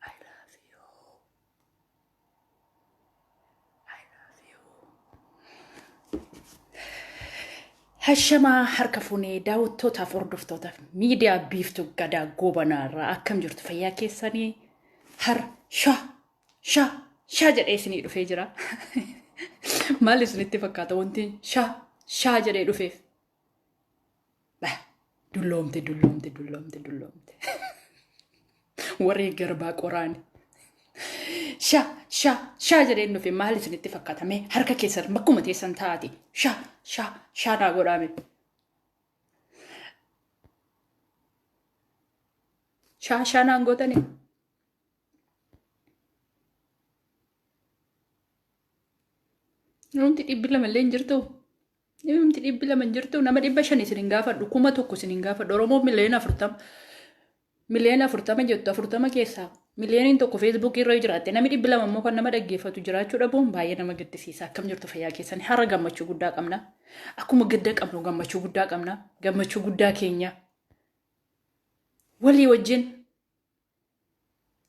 I love you. I love you. Hashamaa harka fuunee daawwattootaaf hordoftootaaf miidiyaa biiftuu gadaa goobanaa irraa akkam jirtu fayyaa keessanii har sha Sha sha jedhee isinii dhufee jira. Maal isinitti fakkaata wanti sha sha jedhee dhufeef? Bah, Dulloomte dulloomte dulloomte dulloomte. Warri garbaa qoraani. Sha sha sha jedheen dhufe maal isinitti fakkaata mee harka keessan bakkuma teessan taa'ati sha sha sha naa godhaame. Sha sha naan gootanii. Namni dhibbi lama illee hin jirtu. Namni dhibbi lama hin jirtu. Nama dhibba shan isin hin gaafadhu. Kuma tokko isin hin gaafadhu. Oromoo miliyoona afurtama. Miliyoona afurtama jettu. Afurtama keessaa miliyooniin tokko feesbuukii irra jiraatte. Namni dhibbi lama immoo kan nama dhaggeeffatu jiraachuu dhabuun baay'ee nama gaddisiisa. Akkam jirtu fayyaa keessan. Har'a gammachuu guddaa qabna. Akkuma gadda qabnu gammachuu guddaa qabna. Gammachuu guddaa keenya. Walii wajjin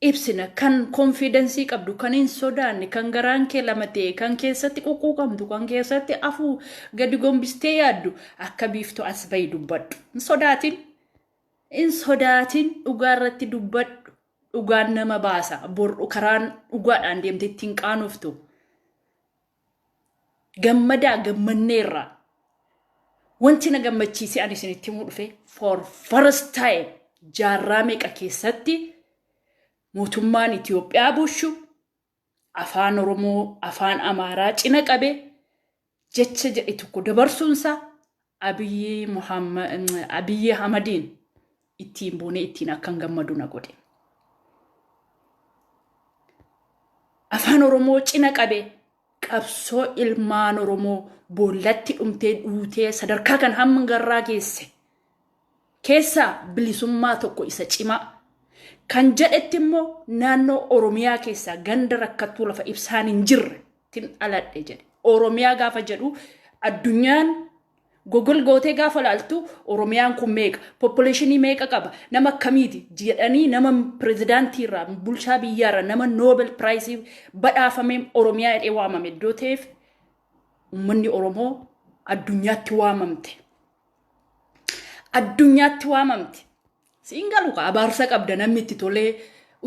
ibsina kan konfiidensii qabdu kan hin sodaanne kan garaan kee lama ta'e kan keessatti quqquuqamtu kan keessatti afuu gadi gombistee yaaddu akka biiftu as bahi dubbadhu hin sodaatin hin sodaatin dhugaa irratti dubbadhu dhugaan nama baasa bor'u karaan dhugaadhaan deemte ittiin qaanoftu gammadaa gammanneerraa wanti na gammachiisee ani isinitti himuu dhufe for first time jaarraa meeqa keessatti mootummaan Itoophiyaa bushu afaan Oromoo afaan Amaaraa cina qabe jecha jedhe tokko dabarsuunsaa Abiyyi Muhamma- mm, Abiyyi Ahmadiin ittiin boonee ittiin akkan gammadu na godhe. Afaan Oromoo cina qabe qabsoo ilmaan Oromoo boollatti dhumtee dhuutee sadarkaa kan hamma garraa geesse. keessaa bilisummaa tokko isa cimaa kan jedhetti immoo naannoo Oromiyaa keessaa ganda rakkattuu lafa ibsaan hin jirre tin dhaladhe jedhe. Oromiyaa gaafa jedhu addunyaan Google gootee gaafa laaltu Oromiyaan kun meeqa, population meeqa qaba, nama akkamiiti jedhanii nama pirezidaantii irraa, bulchaa biyyaa irraa, nama Nobel Prize badhaafamee Oromiyaa jedhee waamame iddoo ta'eef uummanni Oromoo addunyaatti waamamte. addunyaatti waamamte siin galu ka abaarsa qabda namni itti tolee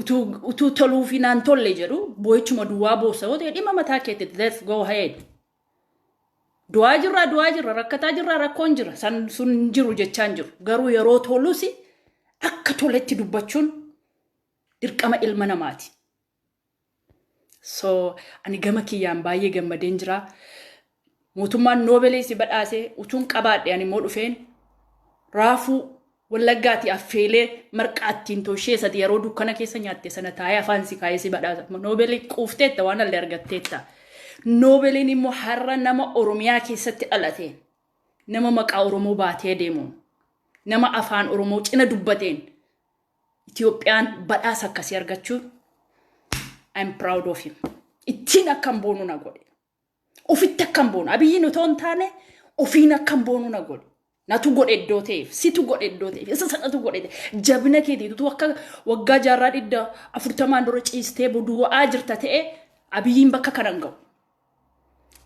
utuu utuu toluu fi naan tolle jedhu boo'ichuma duwwaa boossa yoo ta'e dhimma mataa keetti that's go ahead du'aa jirraa du'aa jirra rakkataa jirraa rakkoon jira san sun hin jiru jechaa hin jiru garuu yeroo tolusi akka toletti dubbachuun dirqama ilma namaati So ani gama kiyyaan baay'ee gammadeen jira. Mootummaan noobelee si badhaasee utuun qabaadhe ani immoo dhufeen raafuu wallaggaati affeelee marqaa ittiin tooshee sati yeroo dukkana keessa nyaatte sana taa'ee afaan si kaa'ee si badhaasa. Noobelee quufteetta waan allee argatteetta. Noobeleen immoo har'a nama Oromiyaa keessatti dhalate nama maqaa Oromoo baatee deemuun nama afaan Oromoo cina dubbateen Itoophiyaan badhaasa akkasii argachuun I'm proud of him. Ittiin akkan boonu na godhe. Ofitti akkan boonu. Abiyyiin otoo hin taane ofiin akkan boonu na godhe. Natu godhe iddoo ta'eef, situ godhe iddoo ta'eef, isa sanatu godhe ta'e. Jabina keetii utuu akka waggaa jaarraa dhidda afurtamaan dura ciistee boduwa'aa jirta ta'e abiyyiin bakka kanan ga'u.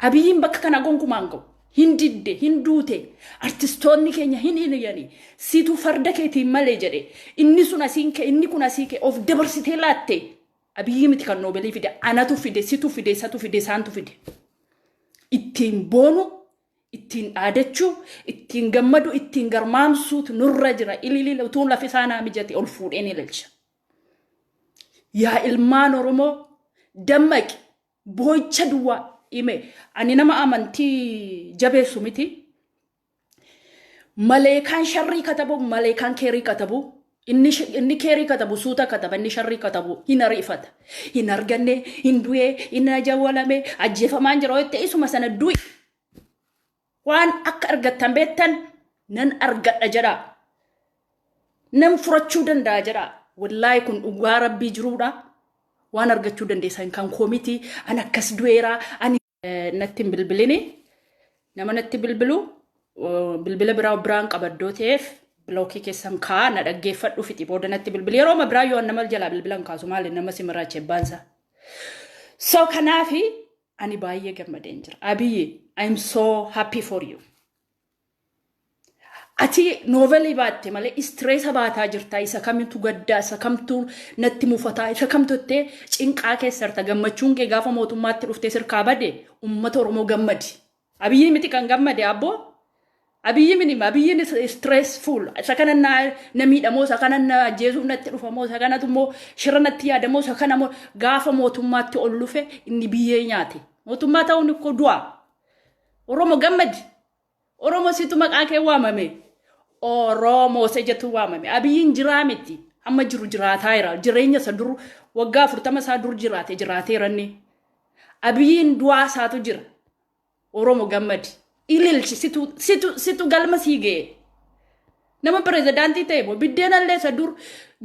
Abiyyiin bakka kana gonkumaa hin ga'u. Hin didde, hin duute, artistoonni keenya hin hiliyani. Situ farda keetiin malee jedhe. Inni sun asiin kee, inni kun asii kee. Of dabarsitee laatte. Abiyyii miti kan noobelii fide. Anatu fide, situ fide, isatu fide, isaantu fide. Ittiin boonu, ittiin dhaadachuu, ittiin gammadu, ittiin garmaamsuutu nurra jira. Ililila utuu lafi isaa naa mijate ol fuudheen ililcha. Yaa ilmaan Oromoo dammaqi. boo'icha duwwaa hime. Ani nama amantii jabeessu miti. Maleekaan sharrii katabu, maleekaan keerii katabu. Inni, sh- inni keerii katabu suuta kataba, inni sharrii katabu hin ariifata. Hin arganne, hin du'ee, hin ajawwalame, ajjeefamaan jira yoo ta'e isuma sana du'i. Waan akka argattan beektan nan argadha jedhaa. Nan furachuu danda'a jedhaa. Wallaahi kun dhugaa rabbii jiruudha. Waan argachuu dandeessan kan koo miti. An akkas du'eera. Ani natti hin bilbilini. Nama natti bilbilu uh, bilbila biraa biraan qaba iddoo ta'eef bilookii keessan kaa na dhaggeeffadhu fixi booda natti bilbili. Yeroo ma biraa yoo an nama jalaa bilbilan kaasu maali nama si maraache baansa. So kanaafi Ani baay'ee gammadeen jira. Abiyyi, I'm so happy for you. Ati noovelii baatte malee istireesa baataa jirtaa isa kamitu gaddaa isa kamtu natti mufataa isa kamtu ittee cinqaa keessa jirta gammachuun kee gaafa mootummaatti dhuftee sirkaa bade uummata Oromoo gammadi Abiyyi miti kan gammade abboo. Abiyyi mini abiyyin is stressful. Isa kana na na miidhamoo isa kana na ajjeesuuf natti dhufamoo isa kanatu immoo shira natti yaadamoo isa kana moo gaafa mootummaatti ol lufe inni biyyee nyaate. Mootummaa ta'uun koo du'a. Oromo gammadi. Oromo situ maqaa kee waamame. Oromo isa jetu waamame. Abiyyiin jiraa miti. Amma jiru jiraataa jira. Jireenya isa dur waggaa afurtama isaa dur jiraate jiraateera inni. Abiyiin du'aa isaatu jira. Oromo gammadi. Ililchi situ situ situ galma sii ga'e. Nama pirezidaantii ta'e moo biddeena illee isa dur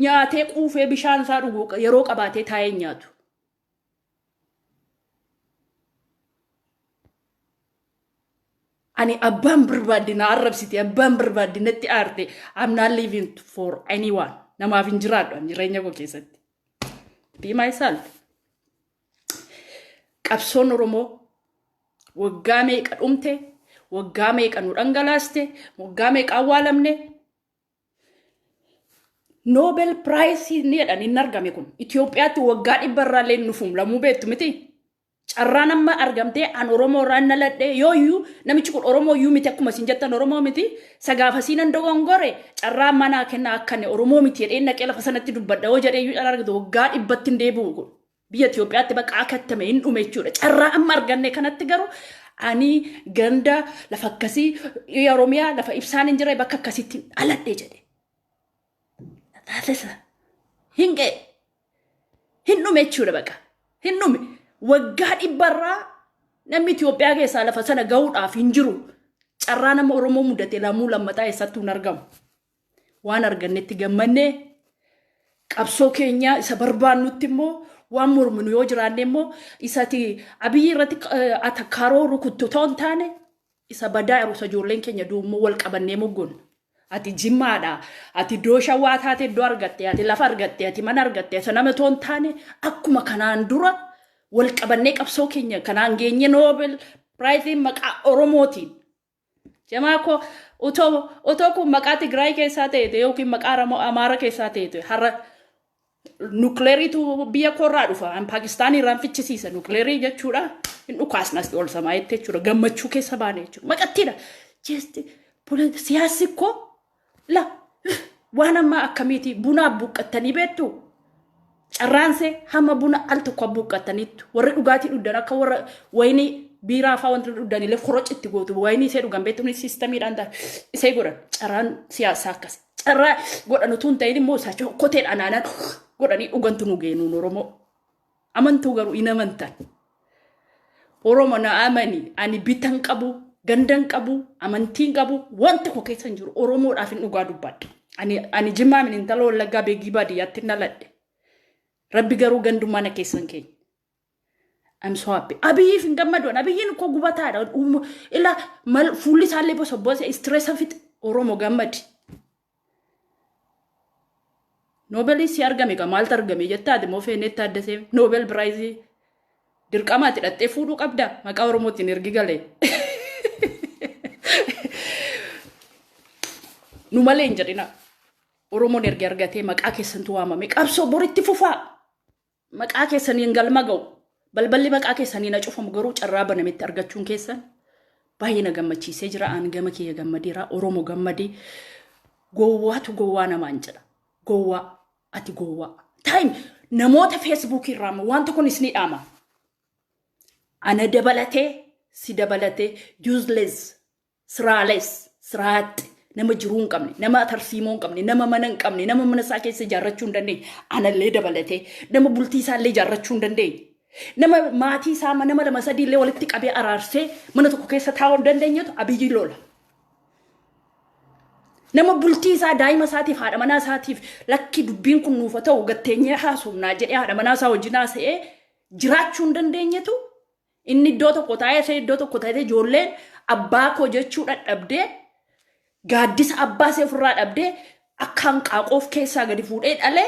nyaatee quufee bishaan isaa dhuguu qa- yeroo qabaatee taa'ee hin nyaatu. Ani abbaan barbaadde na arrabsite abbaan barbaadde natti aarte I'm not living for anyone namaaf hin jiraadhu ani jireenya koo keessatti. Be myself. Qabsoon Oromoo waggaa meeqa dhumte, waggaa meeqa nu dhangalaaste, waggaa meeqa awwaalamne. Noobel Piraayisii ni jedhan hin argame kun. Itoophiyaatti waggaa dhibba irraa illee hin dhufu lamuu beektu miti. Carraan amma argamtee an Oromoo irraa hin dhaladhe yoo iyyuu namichi kun Oromoo iyyuu miti akkuma isin jettan Oromoo miti sagaafasii nan dogongore carraa manaa kennaa akka inni Oromoo miti jedhee naqee lafa sanatti dubbadha yoo jedhee iyyuu dhala argatu waggaa dhibbatti hin deebi'u kun. biyya Itoophiyaatti bakka akattame hin dhume jechuudha. Carraa amma arganne kanatti garuu ani ganda lafa akkasii biyya Oromiyaa lafa ibsaan hin jirre bakka akkasiitti dhaladhe jedhe. Taasisa. Hin ga'e. Hin dhume jechuudha baqa. Hin dhume. Waggaa dhibbarraa namni Itoophiyaa keessaa lafa sana gahuudhaaf hin jiru. Carraa nama Oromoo mudate lamuu lammataa eessattuu hin argamu. Waan argannetti gammanne qabsoo keenya isa barbaannutti immoo waan morminu yoo jiraanne immoo isati abiyyii irratti eh, atakkaaroo rukuttu ta'uu hin taane isa badaa yeroosa ijoolleen keenya duummoo wal qabannee moggoon. Ati jimmaadha. Ati iddoo shawaa taate iddoo argatte. Ati lafa argatte. Ati mana argatte. Isa nama ta'uu hin taane akkuma kanaan dura wal qabannee qabsoo keenya kanaan geenye Nobel Piraayisiin maqaa Oromootiin Jamaa koo otoo otoo kun maqaa Tigraay keessaa ta'eete yookiin maqaa Aramoo Amaara keessaa ta'eete har'a nukleeriitu biyya koorraa dhufa an Paakistaan irraan fichisiisa nukleerii jechuudha hin dhukaasna asii ol samaa jettee jechuudha gammachuu keessa baane jechuudha maqattiidha jeesti siyaassi koo La waan ammaa akkamiiti buna buqqattanii beektu? Carraansee hamma buna al tokko buqqattaniittu. Warri dhugaatii dhugdan akka warra wayinii biiraa fa'aa wanti dhugdan illee koroci itti gootu. Wayinii isee dhugan beektu ni siistamiidhaan ta'a. Isee godhan carraan siyaasaa akkas. Carraa godhan utuu hin ta'in immoo isaa koteedhaan aanan godhanii dhugantu nu geenuun Oromoo. Amantuu garuu hin amantan. Oromo na amani ani bitan qabu gandan qabu amantiin qabu waan tokko keessa hin jiru Oromoodhaaf hin dhugaa dubbadha. Ani ani jimmaa min intala wallaggaa beegii baadiyyaatti naladhe. Rabbi garuu gandummaa na keessan keenya. I'm so happy. Abiyyiif hin gammadoon. Abiyyiin koo gubataadha. Uuma- Ila mal fuulli isaallee bosobboose istireessa fixe. Oromo gammadi. Noobelii si argame egaa maaltu argame jettaa ati immoo Feeneet Taaddasee Noobel Piraayizii dirqamaa ati dhaxxee fuudhuu qabda maqaa Oromootiin ergi galee. Nu malee hin jedhina. Oromoon ergi argatee maqaa keessantu waamame qabsoo boritti fufaa. Maqaa keessaniin galma ga'u. Balballi maqaa keessaniin na cufamu garuu carraa banametti argachuun keessan baay'ee na gammachiisee jira. Aan gama kiyya gammadeera. Oromo gammadee. Gowwaatu gowwaa namaan jedha. Gowwaa. Ati gowwaa. Taayim namoota feesbuukii irraa ammoo wanta kun isinii dhaama. Ana dabalatee si dabalatee useless Siraaless, siraaxxe, nama jiruu hin qabne, nama tarsiimoo hin qabne, nama mana hin qabne, nama mana isaa keessa ijaarrachuu hin dandeenye, anallee dabalatee, nama bultii isaa illee ijaarrachuu hin dandeenye, nama maatii isaa ma- nama lama sadii illee walitti qabee araarsee mana tokko keessa taa'uu hin dandeenyetu abiyyi lola. Nama bultii isaa daa'ima isaatiif haadha manaa isaatiif lakki dubbiin kun nuufa ta'u gatteenyee haasofnaa jedhee haadha manaa isaa wajjin haasa'ee jiraachuu hin dandeenyetu Inni iddoo tokko taa'ee isheen iddoo tokko taatee ijoolleen abbaa koo jechuu dhadhabdee gaaddisa abbaa ishee ofirraa dhabdee akka hanqaaquu of keessaa gadi fuudhee dhalee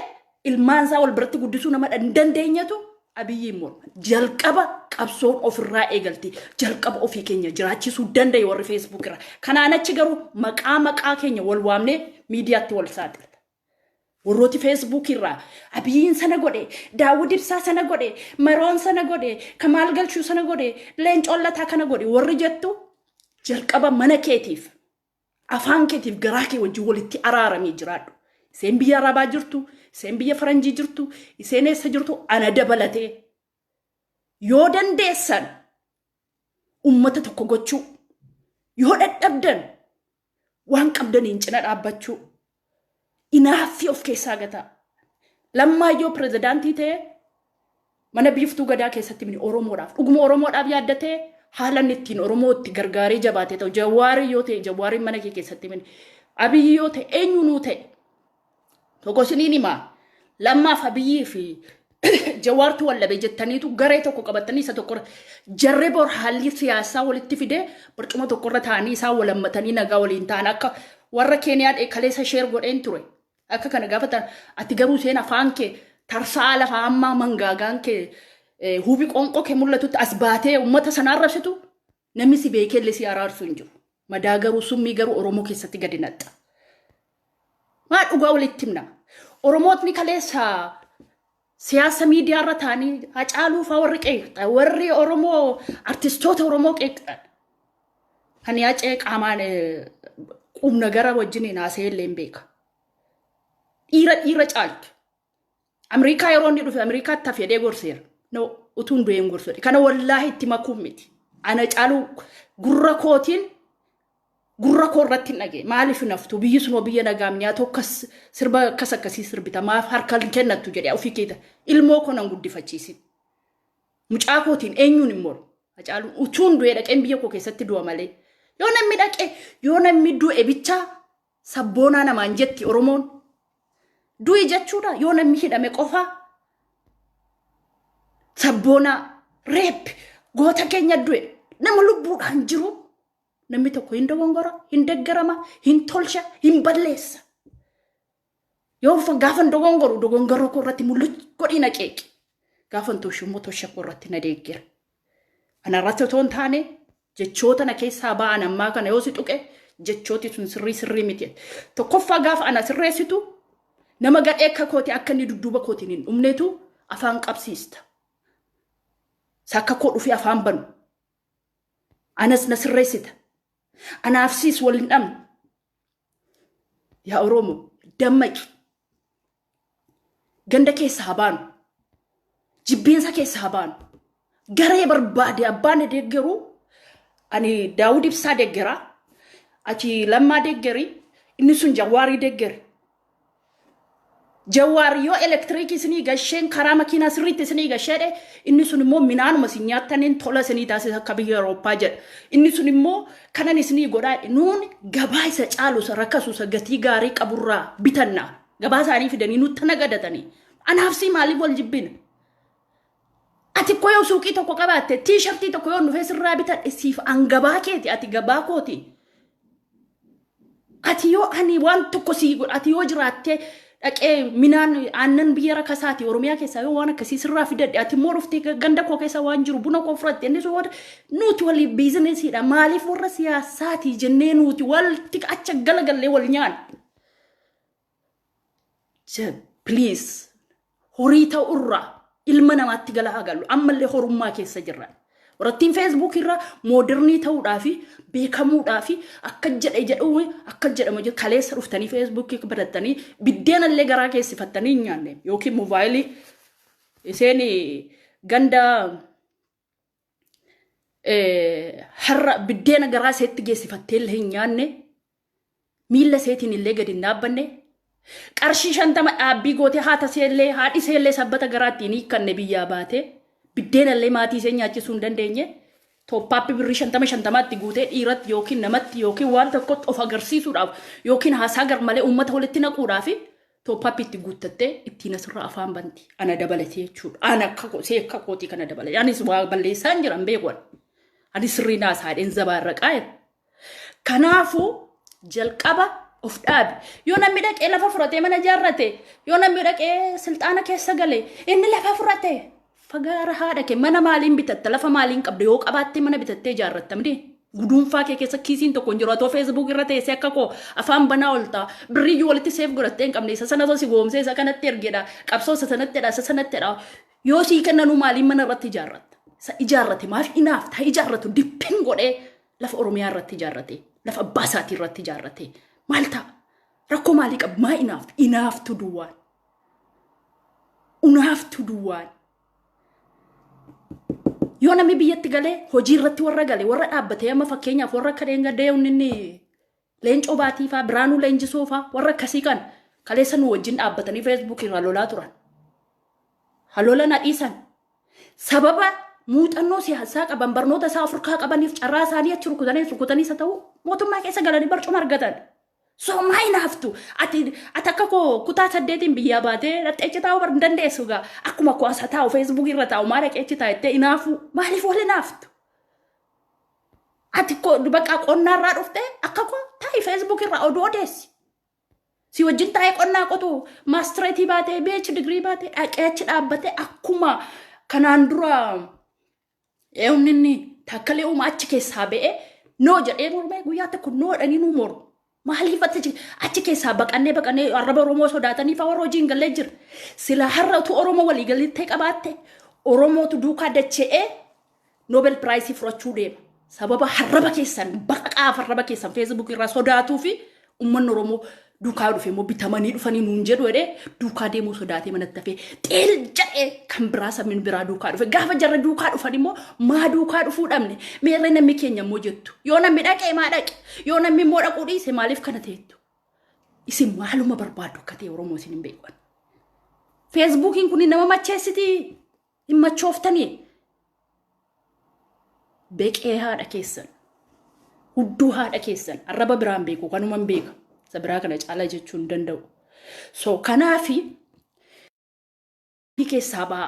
ilmaan isaa wal biratti guddisuu nama hin dandeenyetu abiyyiin morma. Jalqaba qabsoon ofirraa eegalti. Jalqaba ofii keenya jiraachisuu danda'e warri feesbuuk irra. Kanaan achi garuu maqaa maqaa keenya wal waamnee miidiyaatti wal saaxila. Warrooti Facebook irraa Abiyiin sana godhe, Daawud Ibsaa sana godhe, Maroon sana godhe, Kamaal Galchuu sana godhe, Leencoon Lataa kana godhe warri jettu jalqaba mana keetiif afaan keetiif garaa kee wajjin walitti araaramii jiraadhu. Iseen biyya Arabaa jirtu, iseen biyya Faranjii jirtu, iseen eessa jirtu ana dabalatee yoo dandeessan ummata tokko gochuu yoo dadhabdan Waan qabdaniin cina dhaabbachuu inaaffii of keessaa gataa. Lammaan yoo pirezidaantii ta'e mana biiftuu gadaa keessatti mini Oromoodhaaf dhuguma Oromoodhaaf yaaddatee haala inni ittiin Oromoo itti gargaaree jabaate ta'u jawaarii yoo ta'e jawaariin mana kee keessatti mini abiyyi yoo ta'e eenyuunuu ta'e Tokko isiniin himaa lammaaf abiyyii fi jawaartu wallabe jettaniitu garee tokko qabattanii isa tokkorra jarri bor haalli siyaasaa walitti fidee barcuma tokkorra taa'anii isaa walammatanii nagaa waliin ta'an akka warra keeniyaan eekaleessa sheer godheen ture. Akka kana gaafatan ati garuu seen afaan kee tarsaa lafa ammaa mangaagaan kee huubi qoonqoo kee mul'atutti as baatee uummata sana arrabsitu Namni si beekelle si araarsu hin jiru. Madaa garuu summii garuu Oromoo keessatti gadi naxxa. Maa dhugaa walitti himna. Oromootni kaleessa siyaasa miidiyaa irra taanii hacaaluu faa warri qeeqxan warri Oromoo artistoota Oromoo qeeqxan. Kan yaacee qaamaan qubna gara wajjin hin haasa'e illee hin beeka. Dhiira dhiira caaltu. Ameerikaa yeroo inni dhufe Ameerikaatti hafe jedhee gorseera. No, utuu hin du'een gorsu jedhe. Kana wallaahi itti makuun miti. Ana caaluu gurra kootiin gurra koo irratti hin dhagee. Maaliif hin haftu? Biyyi sunoo biyya nagaa miyaa tokkas sirba akkas akkasii sirbita. Maaf harka hin kennattu jedhee ofii keeta. Ilmoo koo nan guddifachiisin. Mucaa kootiin eenyuun hin moru. Hacaaluun utuu hin du'ee dhaqeen biyya koo keessatti du'a malee. Yoo namni dhaqee yoo namni du'e bichaa Sabboonaa namaan jetti Oromoon. Du'i jechuudha yoo namni hidhame qofaa. Sabboonaa reep goota keenya du'e nama lubbuudhaan jiru namni tokko hin dogongora hin deggarama hin tolcha hin balleessa. Yoo fa- gaafan dogongoru dogongoroo koo irratti mul'atu godhii na qeeqi. Gaafan toshu immoo tosha koo irratti na deeggera. Anarratti otoo hin taane jechoota na keessaa ba'an ammaa kana yoo si tuqe jechooti sun sirrii sirrii miti. Tokkoffaa gaafa ana sirreessitu nama gadhee akka kooti akka inni dudduuba kootiin hin dhumneetu afaan qabsiista. Isa akka koo dhufee afaan banu. Anas na sirreessita. Anaaf siis wal hin dhabne. Yaa Oromo dammaqi. Ganda keessa haa baanu. Jibbeensa keessa haa baanu. Garee barbaade abbaan deeggaruu ani Daawud Ibsaa deeggaraa achi lammaa deeggari inni sun Jawaarii deeggari Jawaar yoo elektiriikii isinii gasheen karaa makiinaa sirriitti isinii gasheedhe inni sun immoo minaanuma isin nyaattaniin tola isinii taasisa akka biyya Awurooppaa jedha. Inni sun immoo kanan isinii godhaa jedhe nuun gabaa isa caalu isa rakasu isa gatii gaarii qaburraa bitanna. Gabaa isaanii fidanii nutti nagadatanii. Anaaf sii maaliif wal jibbina? Ati koo yoo suuqii tokko qabaatte tiishartii tokko yoo dhufee sirraa bitadhe siif an gabaa keeti ati gabaa kooti. Ati yoo ani waan tokko sii godha ati yoo jiraattee dhaqee minaan aannan biyya rakasaati oromiyaa keessaa yoo waan akkasii sirraa fidadhe ati immoo dhuftee ga- ganda koo keessa waan jiru buna koo fudhatte inni sun waan nuti waliif biizinesiidha maaliif warra siyaasaati jennee nuti walitti acha galagallee wal nyaanna. Please horii ta'u irraa ilma namaatti gala haa gallu ammallee horummaa keessa jirra. Warattiin Facebook irra moodirnii ta'uudhaa fi beekamuudhaa fi akka jedhe jedhu akka jedhama jedhu kaleessa dhuftanii Facebook barattanii biddeena illee garaa keessifattanii hin nyaanne yookiin moobaayilii isheen ganda har'a biddeena garaa isheetti geessifattee illee hin nyaanne miilla isheetiin illee gadi hin dhaabbanne qarshii shantama dhaabbii gootee haata ishee illee haadhi ishee illee sabbata garaa ittiin hiikkanne biyyaa baatee biddeena illee maatii ishee nyaachisuu hin dandeenye tooppaappi birrii shantama shantamaatti guutee dhiiratti yookiin namatti yookiin waan tokkotti of agarsiisuudhaaf yookiin haasaa garmalee uummata walitti naquudhaaf Tooppaappi itti guuttattee ittiin asirra afaan banti. Ana dabalatee jechuudha. Ana akka koo see akka kootii kana dabalatee. Anis waa balleessaa hin jiran beekuun. Ani sirrii naa saadheen zabaa irra qaa'e. Kanaafuu jalqaba of dhaabi. Yoo namni dhaqee lafa fudhatee mana ijaarrate, yoo namni dhaqee silxaana keessa gale, inni lafa fudhate. Fagaara haadha kee mana maaliin bitatta lafa maaliin qabda yoo qabaattee mana bitattee ijaarratta miti guduunfaa kee keessa kiisiin tokko hin jiru atoo feesbuuk irra teessee akka koo afaan banaa oltaa birriyyuu walitti seef godhattee hin qabne isa sana osoo si goomsee isa kanatti ergedha qabsoo isa sanatti jedha isa sanatti jedha yoo sii kennanuu maaliin mana irratti ijaarratta isa ijaarrate maaf inaaf taa ijaarratu dippin godhee lafa oromiyaa irratti ijaarrate lafa abbaa isaatii irratti ijaarrate maal ta'a rakkoo maalii qabu maa inaaf inaaftu duwwaan unaaftu duwwaan yoo namni biyyatti galee hojii irratti warra gale warra dhaabbatee amma fakkeenyaaf warra akka dheengadee inni leencoo baatii faa biraanuu leenjisoo faa warra akkasii kan kaleessa nu wajjin dhaabbatanii feesbuukii irraa lolaa turan. Halola na dhiisan. Sababa muuxannoo siyaasaa qaban barnoota isaa ofirkaa qabaniif carraa isaanii achi rukutanii rukutanii isa ta'u mootummaa keessa galanii barcuma argatan. Soomaa hin haftu. Ati ati akka koo kutaa saddeetiin biyyaa baatee dhaqxee achi taa'uu bar hin dandeessu gaa. Akkuma koo asa taa'u feesbuukii irra taa'u maa dhaqee achi taa'ettee hin hafu. Maaliif wal hin haftu? Ati koo bakka qonnaa irraa dhuftee akka koo taa'i feesbuukii irraa oduu odeessi. Si wajjin taa'ee qonnaa qotu maastireetii baatee beech digirii baatee dhaqee achi dhaabbatee akkuma kanaan dura Eewni inni takkalee uumaa achi keessaa ba'ee noo jedhee mormee guyyaa tokko noo jedhanii nuu mormu. Maaliif achi achi keessaa baqannee baqannee arraba Oromoo sodaatanii fa'aa warra hojii hin gallee jira. Silaa har'a utuu Oromoo walii galittee qabaatte Oromootu duukaa dacha'ee Nobel Piraayisii fudhachuu deema. Sababa harraba keessan baqaqaaf harraba keessan feesbuukii irraa sodaatuu fi Uummanni Oromoo duukaa yoo dhufe immoo bitamanii dhufanii nuun jedhu jedhee duukaa deemuu sodaatee manatti hafee xeel jedhee kan biraa sabni biraa duukaa dhufe gaafa jarri duukaa dhufan immoo maa duukaa dhufuu dhabne meerree namni keenya immoo jettu yoo namni dhaqe maa dhaqe yoo namni immoo dhaquu dhiise maaliif kana teettu isin maaluma barbaaddu akka ta'e Oromoo isin hin beekan. Feesbuukiin kun nama macheessitii? hin machooftanii beqee haadha keessan hudduu haadha keessan arraba biraan beeku kanuman beeka isa biraa kana caalaa jechuu hin danda'u so kanaafi fi keessaa ba'a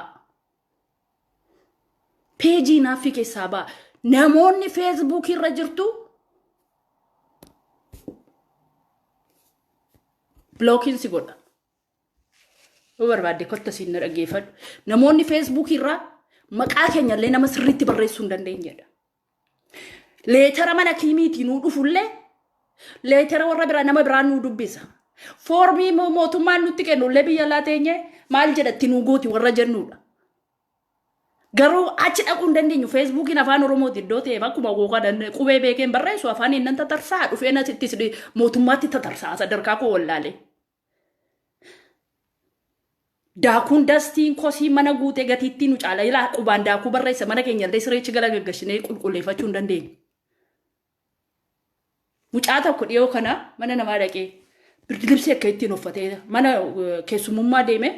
peejii naaffii keessaa ba'a namoonni feesbuukii irra jirtu bilookiin si godha Yoo barbaadde kotta siin na dhaggeeffadhu. Namoonni feesbuukii irraa maqaa keenya illee nama sirriitti barreessuu hin dandeenyedha. Leetara mana kiimiitii nuu dhufullee leetara warra biraa nama biraa nuu dubbisa. Foormii mo- mootummaan nutti kennu illee biyya alaa teenye maal jedhatti nuu gooti warra jennudha. Garuu achi dhaquu hin dandeenyu. Feesbuukiin afaan Oromooti iddoo ta'eef akkuma googaa danda'e qubee beekeen barreessu afaan inni tatarsaa dhufee natti mootummaatti tatarsaa sadarkaa koo wallaalee. Daakuun dastiin kosii mana guutee gatiittii nu caala ilaa qubaan daakuu barreessa mana keenya illee sireechi gala gaggashinee qulqulleeffachuu hin dandeenye. Mucaa tokko dhiyoo kana mana namaa dhaqee birdilibsii akka ittiin uffatee mana keessumummaa deemee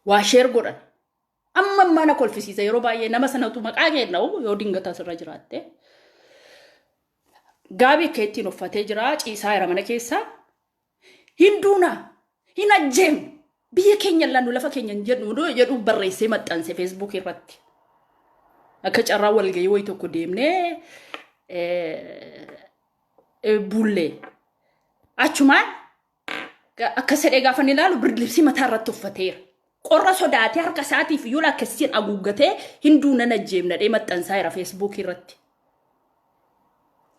waa sheer godhan amma ammaa na kolfisiisa yeroo baay'ee nama sanatu maqaa kennau yoo dingata asirra jiraatte gaabii akka ittiin uffatee jira ciisaa jira mana keessaa hin duuna hin ajjeenu biyya keenya laannu lafa keenya hin jedhu jedhu barreessee maxxanse feesbuukii irratti akka carraa walgahii wayii tokko deemnee eh, eh, bullee achumaan akkas jedhee gaafa inni ilaalu birdilibsii mataa irratti uffateera. Qorra sodaatee harka isaatiif iyyuu lakkessiin haguuggatee hinduu nan ajjeemnadhee maxxansaa'eera feesbuukii irratti.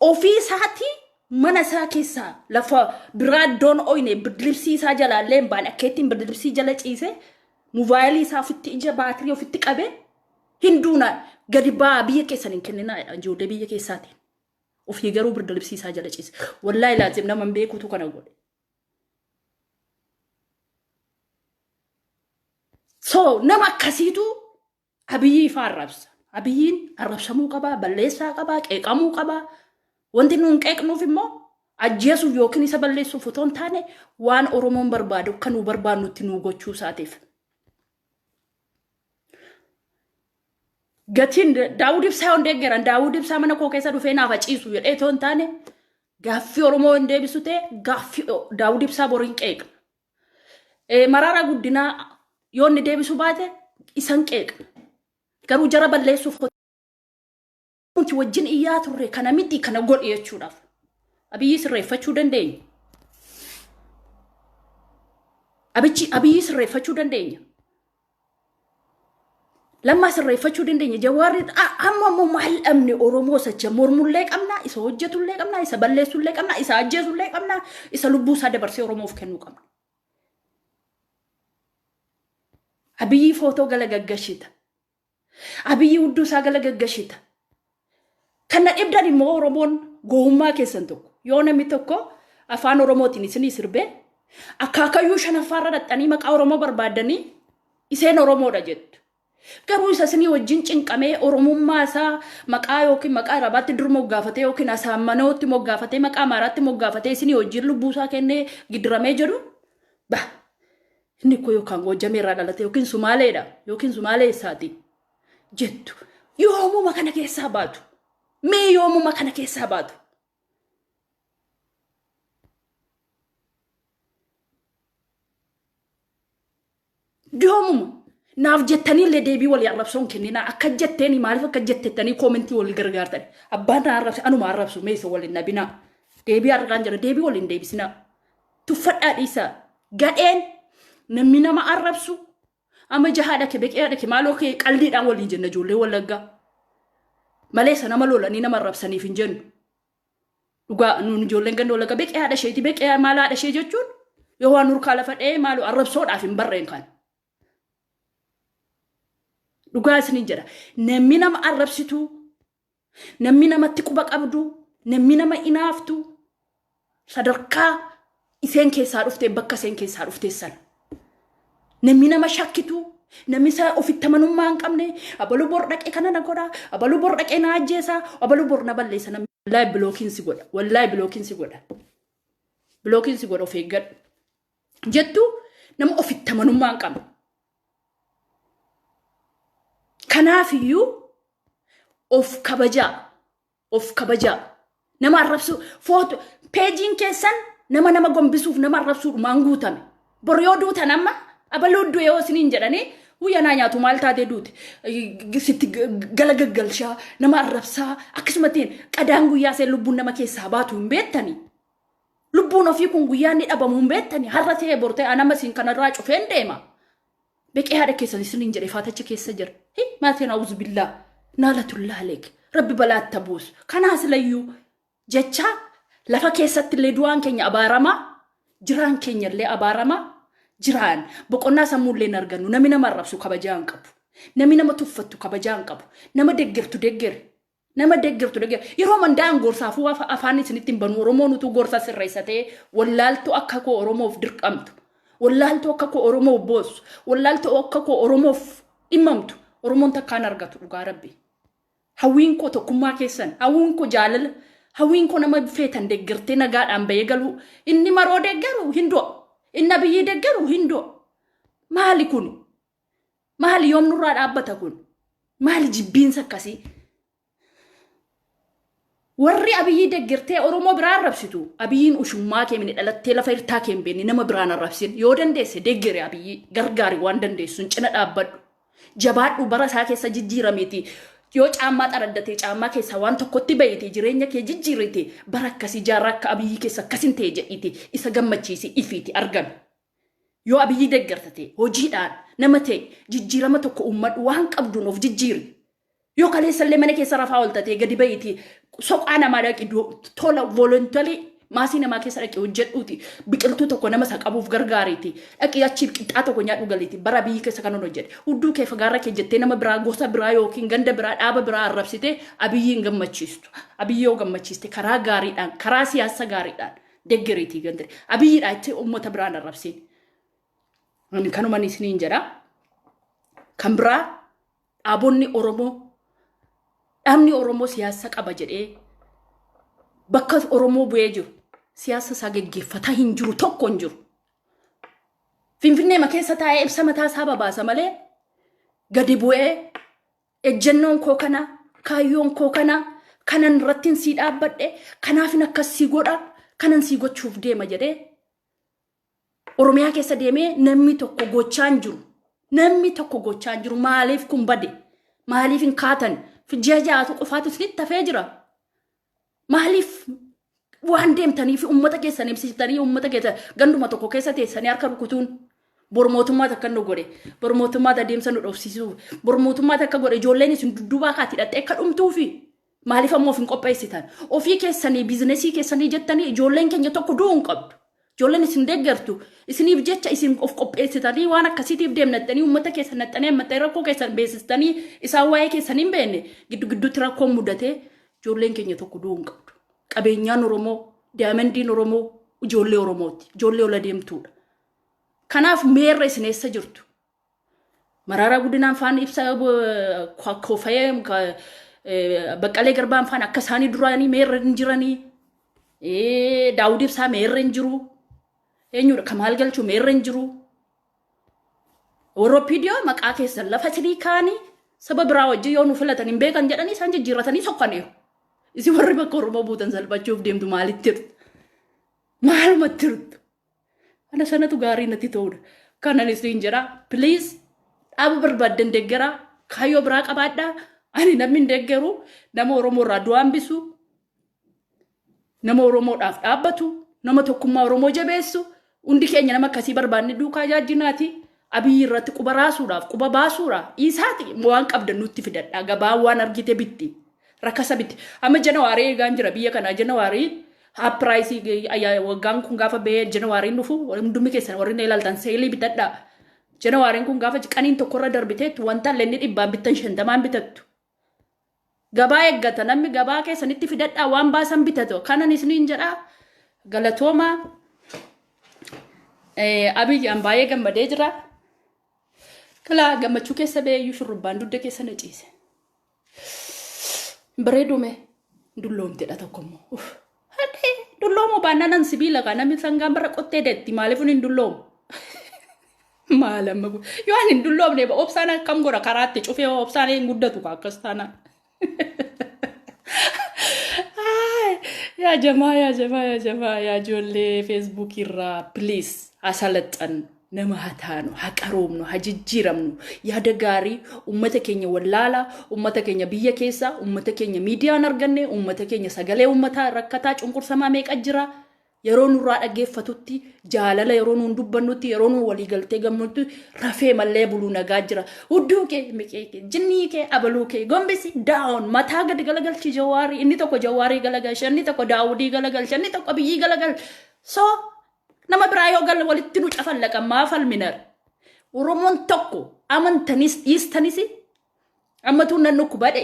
Ofii isaatii mana isaa keessaa lafa biraa iddoon oyne birdilibsii isaa jalaallee hin baane akkeettiin birdilibsii jala ciisee mobaayilii isaa ofitti ija baatirii ofitti qabee hinduuna gadi ba'aa biyya keessan hin kenninaa jedha ijoollee biyya keessaatiin. Ofii garuu birda libsii isaa jala ciise. Wallaahi laazim nama hin beekuutu kana godhe. So nama akkasiitu abiyyii ifaa arrabsa. Abiyyiin arrabsamuu qabaa, balleessaa qabaa, qeeqamuu qabaa. Wanti nuun qeeqnuuf immoo ajjeesuuf yookiin isa balleessuuf otoo hin taane waan Oromoon barbaadu akka nuu barbaannutti nuu gochuu isaatiif. Gatiin Daawud Ibsaa yoon deeggaran Daawud Ibsaa mana koo keessa dhufee naaf haciisu jedhee otoo hin taane gaaffii Oromoo hin deebisu ta'e gaaffii Daawud Ibsaa boriin qeeqa. Maraaraa guddinaa yoo inni deebisu baate isan qeeqa. Garuu jara balleessuuf nuti wajjin iyyaa turre kana miti kana godhi jechuudhaaf abiyyi sirreeffachuu dandeenya. Abichi abiyyi sirreeffachuu dandeenya. Lammaa sirreeffachuu dandeenya. Jawaarri amma immoo maal dhabne Oromoo sacha mormullee qabna, isa hojjetullee qabna, isa balleessullee qabna, isa ajjeesullee qabna, isa lubbuu isaa dabarsee Oromoof kennuu qabna. Abiyyi footoo gala gaggashita. Abiyyi hudduu isaa gala gaggashita. Kan na dhibdan immoo Oromoon gowummaa keessan tokko. Yoo namni tokko afaan Oromootiin isinii sirbee akkaakayyuu shanaffaarra dhaxxanii maqaa Oromoo barbaaddanii iseen Oromoodha jettu. Garuu isa isinii wajjin cinqamee Oromummaa isaa maqaa yookiin maqaa Arabaatti dur moggaafatee yookiin Asaammanootti moggaafatee maqaa Amaaraatti moggaafatee isinii wajjin lubbuu isaa kennee gidiramee jedhu ba. Inni koo yookaan Goojjamee irraa dhalate yookiin Sumaaleedha yookiin Sumaalee eessaati jettu. Yoomuma kana keessaa baatu. Mee yoomuma kana keessaa baatu. Yoomuma naaf jettanii illee deebii walii arrabsoon kenninaa akka jetteeni maaliif akka jettettanii koomentii walii gargaartan abbaan na arrabse anuma arrabsu mee isa waliin nabinaa deebii argaan jira deebii waliin deebisinaa Tuffadhaa dhiisaa. Gadheen namni nama arrabsu amma jahaa dhake beqeyaa dhake maaloo kee qaldiidhaan waliin jenna ijoollee wallaggaa. Malee isa nama lolanii nama arrabsaniif hin jennu. Dhugaa nuun ijoolleen ganda wallaggaa beqee haadha isheeti beqee maal haadha ishee jechuun yoo waan nurkaa lafa dha'ee maaloo arrabsoodhaaf hin barreen kan. Dhugaa isiniin jedha. Namni nama arrabsituu Namni namatti quba qabdu, namni nama inaaftu, sadarkaa iseen keessaa dhufte bakka iseen keessaa dhufte san. Namni nama shakkitu, namni isa ofitti amanummaa hin qabne, abaluu bor dhaqee kana na godha, abaluu bor dhaqee na ajjeesa, abaluu bor na balleessa namni. Wallaahi bilookiin si godha, wallaahi bilookiin si godha. Bilookiin si godha of eeggadhu. jettu nama ofitti amanummaa hin qabne. Kanaafiyyuu of kabajaa of kabajaa nama arrabsuu footo peejiin keessan nama nama gombisuuf nama arrabsuu dhumaan guutame. Bor yoo duutan amma abaluu du'e yoo isiniin jedhanii guyyaa naa nyaatu maal taatee duute sitti gala gaggalshaa nama arrabsaa akkasumattiin qadaan guyyaa seen lubbuun nama keessaa baatu hin beettanii. Lubbuun ofii kun guyyaa inni dhabamu hin beektani har'a ta'e bor ta'e anama isin kanarraa cufeen deema. Beqee haadha keessan isiniin jedhe faatacha keessa jira. Hi maatiin awuzu billaa naalatullaa leek rabbi balaatta buusu. Kanaa silayyuu jecha lafa keessatti illee du'aan keenya abaaramaa jiraan keenya illee abaaramaa jiraan boqonnaa sammuu illee hin argannu nami nama arrabsu kabajaa hin qabu. Nami nama tuffattu kabajaa hin qabu. Nama deggertu deggere. Nama deggertu degger. Yeroo mandaa'an gorsaafuu afa- afaan isinitti hin banu. Oromoon utuu gorsa sirreessa ta'ee wallaaltuu akka koo Oromoof dirqamtu. Wallaaltuu akka koo Oromoof boossu. Wallaaltuu akka koo Oromoof dhimmamtu. Oromoon takkaan argatu dhugaa rabbi. Hawwiin koo tokkummaa keessan. Hawwiin koo jaalala. Hawwiin koo nama feetan deggertee nagaadhaan bahee galuu. Inni maroo deggeru hin du'a. Inni abiyyii deggeru hin du'a. Maali kuni? Maali yoom nurraa dhaabbata kun? Maali jibbiinsa akkasii? Warri abiyyii deggertee Oromoo biraa arrabsitu. Abiyyiin ushummaa kee mini dhalattee lafa irtaa kee hin beekne nama biraan arrabsin. Yoo dandeesse deggere abiyyii gargaari waan dandeessun cina dhaabbadhu. Jabaadhu bara isaa keessa jijjiiramiiti. Yoo caammaa xaraddatee caammaa keessaa waan tokkotti bahiite jireenya kee jijjiirite bara akkasii jaarraa akka abiyyii keessa akkas hin ta'e jedhiiti isa gammachiisi ifiiti argami. Yoo Abiyyii deggerta ta'e, hojiidhaan nama ta'i, jijjiirama tokko uummadhu, waan qabduun of jijjiiri. Yoo kaleessa illee mana keessa rafaa oolta ta'e gadi ba'iiti soqaa namaa dhaqi do- tola voluntarily maasii namaa keessa dhaqi hojjedhuuti biqiltuu tokko nama isa qabuuf gargaariiti dhaqi achiif qixxaa tokko nyaadhu galiiti bara biyyi keessa kanan hojjedhe hudduu kee fagaarra kee jettee nama biraa gosa biraa yookiin ganda biraa dhaaba biraa arrabsitee abiyyiin gammachiistu abiyyi yoo gammachiiste karaa gaariidhaan karaa siyaasa gaariidhaan deggeriitii gandire abiyyidha itti ummata biraan arrabsiin ani kanuman isiniin jedha kan biraa dhaabonni oromoo dhaabni oromoo siyaasa qaba jedhee bakka oromoo bu'ee jiru siyaasa isaa geggeeffataa hin jiru tokko hin jiru finfinneema keessa taa'ee ibsa mataa isaa babaasa malee gadi bu'ee Ejjennoon koo kana, kaayyoon koo kana, kanan irrattiin sii dhaabbadhe, kanaafin akkas sii godha, kanan sii gochuuf deema jedhee Oromiyaa keessa deemee namni tokko gochaa hin jiru. Namni tokko gochaa hin jiru. Maaliif kun bade? Maaliif hin kaatan? Ji'a ja'atu qofaatu isinitti hafee jira. Maaliif waan deemtanii fi uummata keessan ibsitanii uummata keessa ganduma tokko keessa teessanii harka rukutuun bor mootummaata akka nu godhe bor mootummaata adeemsa nu dhoofsisuu bor mootummaata akka godhe ijoolleen isin dudduubaa kaati hidhattee akka dhumtuufi maaliif ammoo of hin qopheessitan ofii keessanii biizinesii keessanii jettanii ijoolleen keenya tokko du'uu hin qabdu. Ijoolleen isin deeggartu isiniif jecha isin of qopheessitanii waan akkasiitiif deemnattanii uummata keessan naxxanii ammattanii rakkoo keessan beeksistanii isaan waa'ee keessan hin beekne giddu gidduutti rakkoon mudatee ijoolleen keenya tokko du'uu hin qabdu. Qabeenyaan Oromoo, daamandiin Oromoo ijoollee Oromooti. Ijoollee ol adeemtuudha. Kanaaf meerra isin eessa jirtu? Maraaraa Guddinaan faan ibsaa yoo kofayee baqqalee garbaan faan akka isaanii duraanii meerra hin jiranii daawud ibsaa meerra hin jiru eenyudha kamaal galchuu meerra hin jiru warra piidiyoo maqaa keessan lafa sirii kaanii saba biraa wajjin yoo nu filatan hin beekan jedhanii isaan jijjiirratanii sokkaniiru isin warri bakka oromoo buutan salphachuuf deemtu maalitti jirtu maalumatti jirtu Ana sanatu gaarii natti ta'udha. Kanan isin jedha please dhaaba barbaaddan deggeraa kaayyoo biraa qabaadhaa ani namni hin deggeru nama Oromoo irraa du'a hambisu nama Oromoodhaaf dhaabbatu nama tokkummaa Oromoo jabeessu hundi keenya nama akkasii barbaanne duukaa jaajjinaati abiyyi irratti quba raasuudhaaf quba baasuudhaaf dhiisaati waan qabdan nutti fidadhaa gabaa waan argite bitti Rakasa miti. Amma Janawaarii eegaan jira biyya kana Janawaarii haappiraayisii ayyaa waggaan kun gaafa ba'ee Janawaariin dhufu hundumni keessan warri na ilaaltan seelii bitadhaa. Janawaariin kun gaafa qaniin tokkorra darbiteetti wanta lenni dhibbaan bittan shantamaan bitattu. Gabaa eeggata namni gabaa keessanitti fidadhaa waan baasan bitatu kanan isiniin jedhaa galatoomaa Eh, Abiyyaan baay'ee gammadee jira. Kalaa gammachuu keessa ba'ee iyyuu shurrubbaan dugda keessa na ciise. Bareeduu mee dulloomtedha tokko immoo. Uff. Hadhee dulloomoo baannanan sibiila kaa namni sangaan bara qottee deetti maaliifun hin dulloomu. Maal amma kun yoo ani hin dulloomne ba obsaan akkam godha karaatti cufee hoo obsaan hin guddatu kaa akkas taanaan. Ay, Yaa jamaa yaa jamaa yaa jamaa yaa ijoollee feesbuukii irraa please haa salaxxannu. nama ha taanu, ha qaroomnu, ha jijjiiramnu, yaada gaarii ummata keenya wallaalaa, ummata keenya biyya keessaa, ummata keenya miidiyaan arganne, ummata keenya sagalee ummataa rakkataa cunqursamaa meeqa jira, yeroo nurraa dhaggeeffatutti, jaalala yeroo nuun dubbannutti, yeroo nuun walii galtee gamnutti, rafee mallee buluu nagaa jira. Hudduu kee, miqee kee, jinnii kee, abaluu kee, gombisi, down, mataa gadi galagalchi jawaarii, inni tokko jawaarii galagalcha, inni tokko daawudii galagalcha, inni tokko biyyii galagalcha. So, Nama biraa yoo galle walitti nu cafallaqan maa falminar. Oromoon tokko amantanis dhiistanis ammatuun nan dhukkubadhe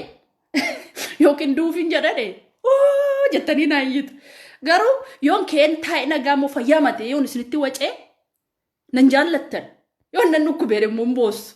yookiin duufiin jedhadhe oo jettanii naa iyyitu. Garuu yoon keen taa'e nagaa moo fayyaa matee yoon isinitti wacee nan jaallattan yoon nan dhukkubeere immoo hin boossu.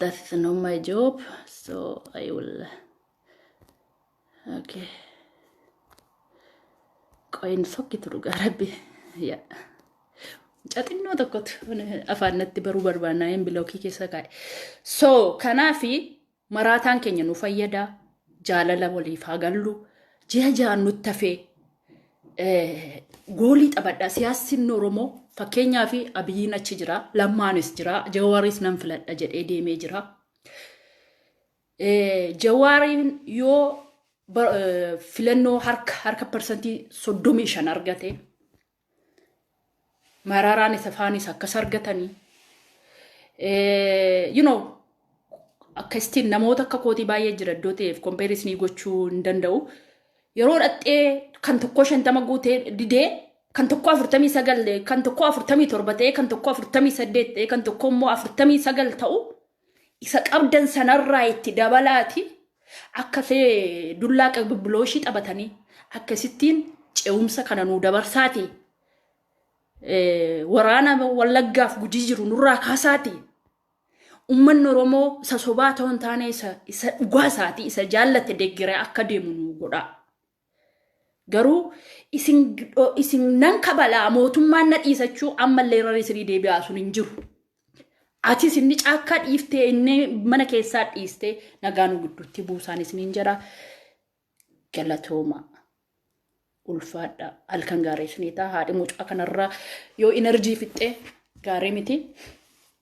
that is not my job so i will okay qoyin sokkitu dhugaa rabbi ya caxinnoo tokkotu afaan natti baruu barbaannaa hin bilookii keessa kaa'e so kanaafi maraataan keenya nu fayyada jaalala waliif haa gallu ji'a ja'an nutti hafee eh, goolii taphadha siyaasni Oromoo fakkeenyaa fi Abiyyiin achi jira lammaanis jira Jawaaris nan filadha jedhee deemee jira. Eh, Jawaariin yoo ba- eh, filannoo harka harka parsantii soddomii shan argate Maraaraan isa faanis akkas argatanii you know akkasitti namoota akka kootii baay'ee jira iddoo ta'eef kompeerisnii gochuu hin danda'u. Yeroo dhaxxee kan tokkoo shantama guutee didee kan tokkoo afurtamii sagal kan tokkoo afurtamii torba ta'ee kan tokkoo afurtamii saddeet ta'ee kan tokkoo immoo afurtamii sagal ta'u Isa qabdan sanarraa itti dabalaati akka see dullaa qibbibilooshii taphatanii akkasittiin ce'umsa kana nuu dabarsaati. Waraana wallaggaaf gujii jiru nurraa kaasaati. Uummanni Oromoo isa sobaa ta'uu hin taane isa dhugaa isaati isa jaallate deggere akka deemu nuu godhaa. Garuu isin isin nan kabalaa mootummaan na dhiisachuu ammallee irra sirii deebi'aa sun hin jiru. Atis inni caakkaa dhiiftee inni mana keessaa dhiistee nagaan gidduutti buusaan isiniin jedha. Galatoomaa. ulfaadha halkan gaarii isiniitaa haadhi mucaa kanarraa yoo enerjii fixxee gaarii miti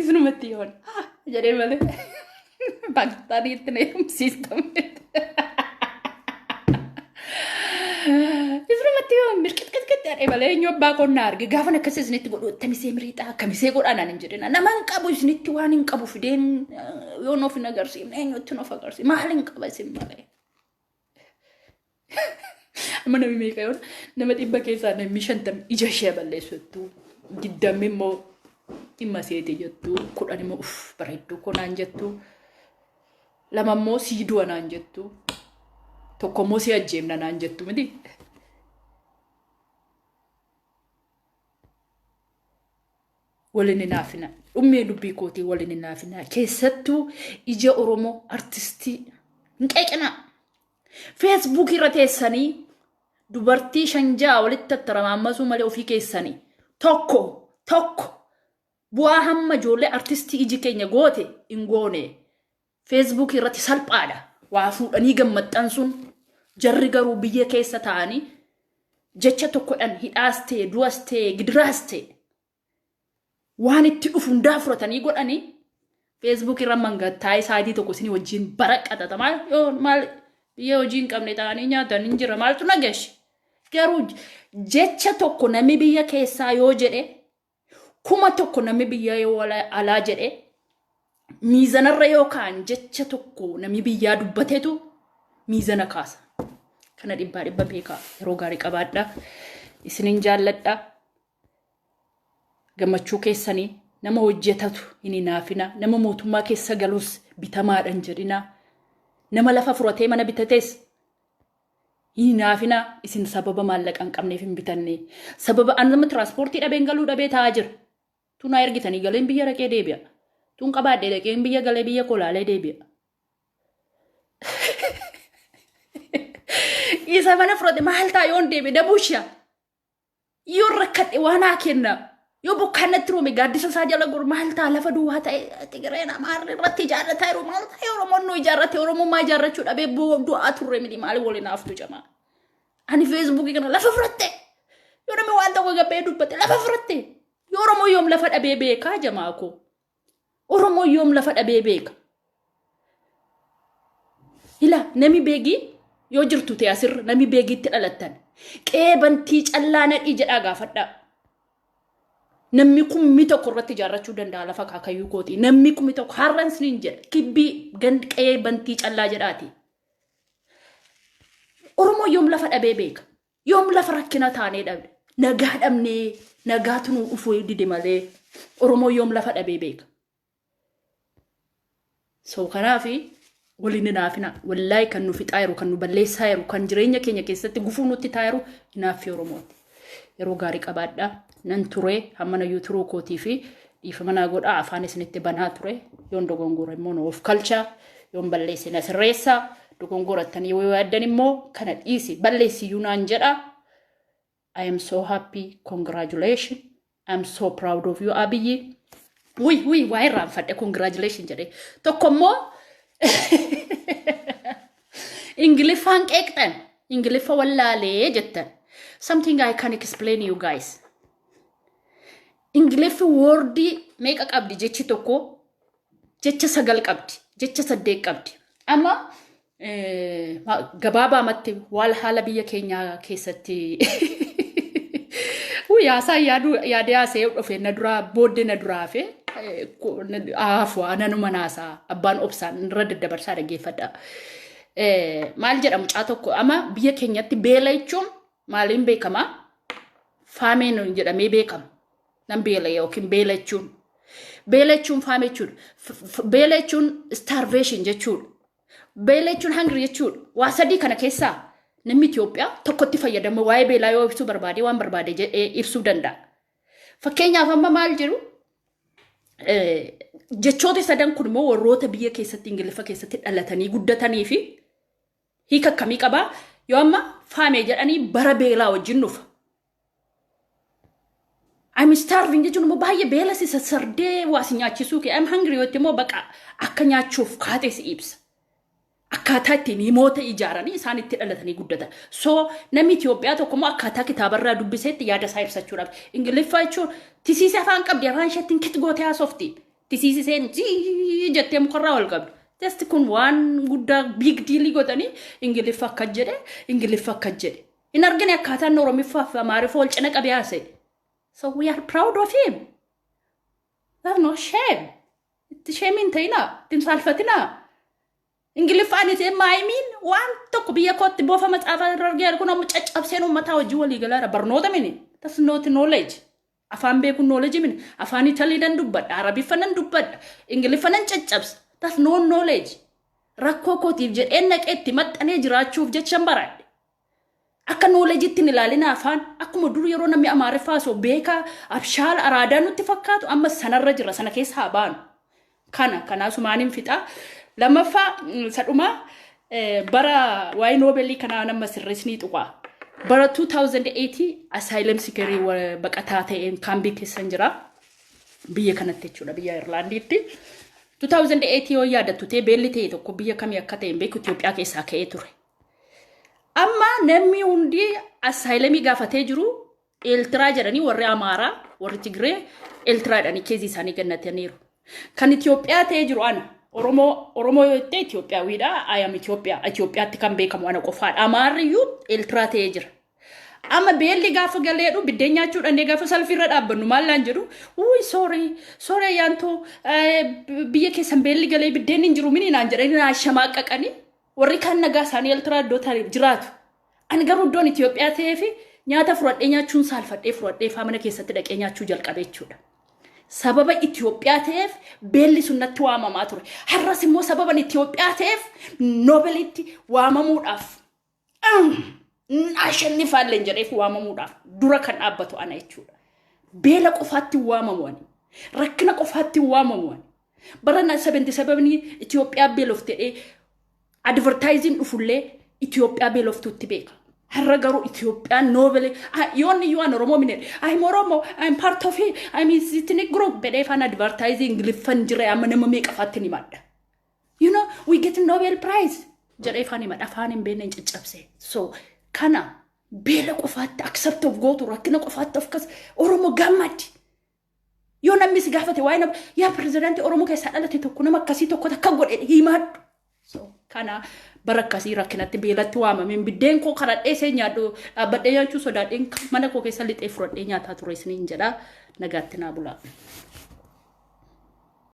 Isinumatti yoon jedhee malee Paakistaan itti na eegumsiistame. Isinumatti yoon mirqixqixqixxi jedhee malee eenyu abbaa qonnaa arge gaafan akkas isinitti godhu ittamisee miriixaa akkamisee godhaan ani hin jedhina. Nama hin qabu isinitti waan hin qabu fideen yoon of hin agarsiifne eenyutti of agarsiifne maal hin qaba isin malee. Amma namni meeqa yoo nama dhibba keessaa namni shantam ija ishee balleessu jettu. Digdammi immoo dhimma seeti jettu. Kudhan immoo uff bareedduu koo naan jettu. Lama immoo sii du'a naan jettu. Tokko immoo sii ajjeefna naan jettu miti. Wal hin hinaafinaa. Dhummee dubbii kootii wal hin hinaafinaa. Keessattuu ija Oromoo artistii hin qeeqinaa. Feesbuukii irra teessanii dubartii shan ja'a walitti tattaramaamasuu malee ofii keessanii tokko tokko bu'aa hamma ijoollee artistii iji keenya goote hin goone. Facebook irratti salphaadha waa fuudhanii gad maxxansuun jarri garuu biyya keessa taa'anii jecha tokkodhan hidhaas ta'e du'as ta'e gidiraas ta'e waan itti dhufu hundaa fudhatanii godhanii Facebook irra mangattaa isaatii tokko isin wajjin bara qaxata maal yoo maal biyya hojii hin qabne ta'anii nyaatan hin jira maaltu nageessi garuu jecha tokko namni biyya keessaa yoo jedhe Kuma tokko namni biyya yoo alaa jedhe miizanarra yoo kaan jecha tokko namni biyyaa dubbatetu miizana kaasa. Kana dhibbaa dhibba beekaa yeroo gaarii qabaadha. Isinin jaalladha. Gammachuu keessanii nama hojjetatu hin hinaafina. Nama mootummaa keessa galus bitamaadhan jedhina. Nama lafa furatee mana bitates Hinaafinaa isin sababa maallaqa hin qabneef hin bitanne. Sababa an amma tiraanspoortii dhabeen galuu dhabee taa'aa jira. Tun naa ergitanii galeen biyya dhaqee deebi'a. Tun qabaadhee dhaqeen biyya galee biyya koo laalee deebi'a. Isa mana fudhate maal ta'a yoon deebi'e dabuusha. Yoo rakkadhe waa naa kenna. Yoo bokkaan natti roome gaaddisa isaa jala godhu maal ta'a lafa duwwaa ta'e Tigireen Amaarri irratti ijaarrataa jiru maal ta'e Oromoon nu ijaarrate Oromummaa ijaarrachuu dhabee bo- du'aa turre miti maali waliin haaftu jamaa. Ani feesbuukii kana lafa fudhatte. Yoo namni waan tokko gabbee dubbate lafa fudhatte. Yoo Oromoo yoom lafa dhabee beekaa jamaa koo. Oromoon yoom lafa dhabee beeka? Ila nami beegii yoo jirtu ta'e asirra nami beegiitti dhalattan qe'ee bantii callaa nadhii jedhaa gaafadhaa. Namni kummi tokko irratti ijaarrachuu danda'a lafa akaakayyuu kooti. Namni kummi tokko har'an isiniin jedha kibbii gand qe'ee bantii callaa jedhaati. Oromoo yoom lafa dhabee beeka? Yoom lafa rakkina taanee dhabe nagaa dhabnee nagaatu nuu dhufuu dide malee Oromoo yoom lafa dhabee beeka. So kanaafi waliin hinaafina wallaahi kan nu fixaa jiru kan nu balleessaa jiru kan jireenya keenya keessatti gufuu nutti taa jiru hinaaffii Oromooti. Yeroo gaarii qabaadhaa nan turee hammana yuuturuu kootii fi Dhiifama naa godhaa afaan isinitti banaa ture yoon dogongora immoo nuuf kalchaa yoon balleesse na sirreessaa dogongorattanii yoo yaaddan immoo kana dhiisi balleessiyyuu naan jedhaa. I am so happy congratulations I am so proud of you Abiyyi. Wuy wuy waa irraanfadhe congratulations jedhee tokko immoo Ingiliffaan qeeqxan Ingiliffa wallaalee jettan something I can explain you guys. Ingiliffi woordii meeqa qabdi jechi tokko jecha sagal qabdi jecha saddeet qabdi amma eh, ma- gabaabaamatti waal haala biyya keenyaa keessatti Wuu yaasaa yaaduu yaadee haasa'ee dhufe na duraa booddee na duraa hafe eh, ku- na- haafu ananuma naasaa abbaan obsaan irra daddabarsaa dhaggeeffadha. Eh, Maal jedha mucaa tokko amma biyya keenyatti beela jechuun maaliin beekama faamee nuun jedhamee beekama nan beela yookiin beela jechuun beela jechuun faamee jechuudha F- f- beela jechuun starvation jechuudha beela jechuun hungry jechuudha waa sadii kana keessaa namni Itoophiyaa tokkotti fayyadama waa'ee beelaa yoo ibsuu barbaade waan barbaade jedhee ibsuu danda'a fakkeenyaaf amma maal jiru eh, jechoota sadan kun immoo warroota biyya keessatti ingiliffa keessatti dhalatanii guddatanii fi Hiika akkamii qaba? Yoo amma faame jedhanii bara beelaa wajjin dhufa. I'm starving jechuun immoo baay'ee beela si sassardee waa si nyaachisuu kee. I'm hungry yoo immoo baqa akka nyaachuuf kaatee si ibsa. Akkaataa ittiin himoota ijaaranii isaan itti dhalatanii guddatan. So namni Itoophiyaa tokko immoo akkaataa kitaabarraa dubbiseetti yaada isaa ibsachuudhaaf. Ingiliffaa jechuun tisiisee afaan qabdi afaan isheettiin kit gootee haasofti. Tisiisiseen jii jettee mukarraa ol qabdu. Just kun waan guddaa big diilii godhanii Ingiliffa akka jedhe Ingiliffa akka jedhe. Hin argine akkaataan Oromiffaa fi Amaariffa wal cina qabee haasa'e. So we are proud of him. There's no shame. Itti shame hin ta'inaa. Itti hin saalfatinaa. Ingiliffaan ishee maayimiin waan tokko biyya kootti boofa macaafa irra argee kun amma caccabseen uummataa hojii walii galaara barnoota mini. That's not knowledge. Afaan beekun knowledge miti. Afaan Italii nan dubbadha, Arabiffa nan dubbadha, Ingiliffa nan caccabsa. That's no knowledge. Rakkoo kootiif jedheen naqee itti maxxanee jiraachuuf jechan baradhe. Akka knowledge'tti hin ilaalina afaan. Akkuma dur yeroo namni Amaariffaa osoo beekaa abshaala araadaa nutti fakkaatu amma sanarra jirra sana keessa haa baanu. Kana kana asumaanin fixaa. Lammaffaa isa dhumaa bara waa'ee noobeelii kanaa nama sirreessinii tuqaa. Bara 2008 asaayilam sikerii baqataa ta'een kaambii keessan jira. Biyya kanatti jechuudha biyya Irlaandiitti. 2008 yoo yaadattu ta'e beelli ta'e tokko biyya kamii akka ta'e hin beeku Itoophiyaa keessaa ka'ee ture. Amma namni hundi asaayilamii gaafatee jiru Eeltiraa jedhanii warri Amaaraa, warri Tigree Eeltiraa jedhanii keezii isaanii gannataniiru. Kan Itoophiyaa ta'ee jiru ana. Oromoo Oromoo yoo ta'e Itoophiyaawidha. Ayam Itoophiyaa. Itoophiyaatti kan beekamu ana qofaadha. Amaarri iyyuu Eeltiraa ta'ee jira. Amma beelli gaafa galeedhu biddeen nyaachuu dhannee gaafa salfiirra dhaabbannu maallaan jedhu wuuyi soorii soorii ayyaantoo biyya keessan beelli galee biddeen hin jiru mini naan jedhanii naa shamaaqaqanii warri kaan nagaa isaanii Eeltiraa iddoo ta'e jiraatu. Ani garuu iddoon Itoophiyaa ta'ee fi nyaata fudhadhee nyaachuun saalfadhee fudhadhee faa mana keessatti dhaqee nyaachuu jalqabe jechuudha. Sababa Itoophiyaa ta'eef beelli sun natti waamamaa ture. Har'as immoo sababan Itoophiyaa ta'eef Noobelitti waamamuudhaaf ashannifaalleen jedheef waamamuudhaaf dura kan dhaabbatu ana jechuudha. Beela qofaatti waamamu ani. Rakkina qofaatti waamamu ani. Bara 77 Itoophiyaa beelofte jedhee advertaayiziin dhufullee Itoophiyaa beeloftuutti beeka. Har'a garuu Itoophiyaan noobele yoonni yoo an Oromoo minedhe I'm Oromo I'm part of it I'm ethnic group bedhee faan advertaayizii Ingiliffan jira amma nama meeqa faatti ni madda. You know we get Nobel prize jedhee faan himadha afaan hin beekne hin caccabse. So kana beela qofaatti accept of gootu rakkina qofaatti of kas Oromoo gammadi. Yoo namni si gaafate waa'ee nama yaa pirezidaantii Oromoo keessaa dhalate tokko nama akkasii tokko takka godhe himaadhu. So kana bara akkasii rakkinatti beelatti waamameen biddeen koo karadhee seen nyaadhu dhaabbadhee nyaachuu sodaadheen mana koo keessa lixee furadhee nyaataa ture isiniin jedha nagaatti naa bulaa.